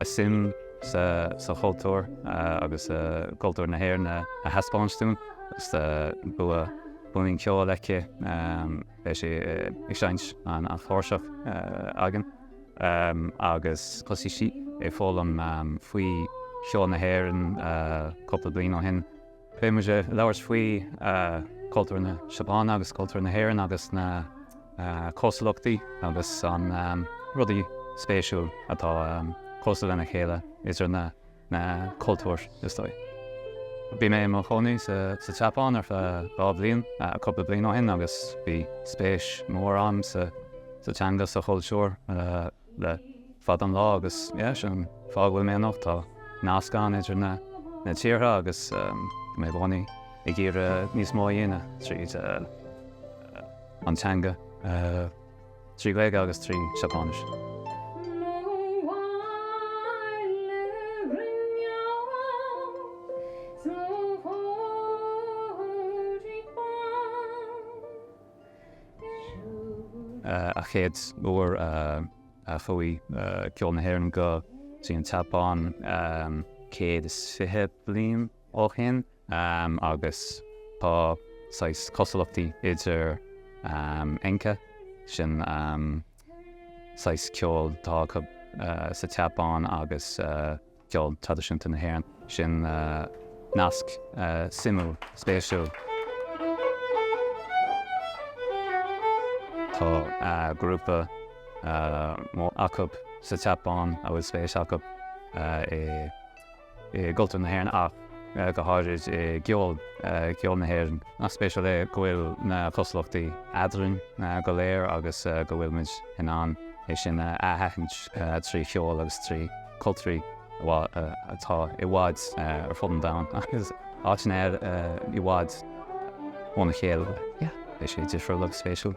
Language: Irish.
a suim sa chultúr agus cultúr na hÉireann a thaispeáint dúinn. Is bua, bua an cheoil aici, beidh sí ag seinnt an chláirseach dúinn agus thosaigh sí ag foghlaim faoi cheol na hÉireann cúpla bliain ó shin. Beidh muid ag labhairt faoi cultúr na Seapáine agus cultúr na hÉireann agus na cosúlachtaí agus an rudaí spéisiúil atá cosúil lena chéile idir na cultúir is dóigh. Bhí mé i mo chónaí sa tSeapáin ar feadh dhá bhliain cúpla bliain ó shin agus bhí spéis mór agam sa teanga sa chultúr le fada an lá agus yeah sin fáth go bhfuil mé anocht. Tá nasc ann idir na na tíortha agus tá mé i gcónaí ag iarraidh níos mó a dhéanamh tríd an teanga trí Ghaeilge agus trí Seapáinis. a chéad uair a chuaigh ceol na hÉireann go dtí an tSeapáin 120 bliain ó shin agus tá saghas cosúlachtaí idir Enka, sin saghas ceoil atá acu sa tSeapáin agus. ceol traidisiúnta na hÉireann. Sin nasc suimiúil, spéisiúil. Tá grúpa mór acu sa tSeapáin a bhfuil spéis acu i gcultúr na hÉireann ach go háirid i gceol na hÉireann. Nach spéisiúil é go bhfuil na cosúlachtaí eadrainn go léir agus go bhfuil muid in ann é sin a aithint trí cheol agus trí. chultúir atá i bhfad ar fud an domhain agus áiteanna i bhfad óna chéile. Beidh sé difriúil agus spéisiúil.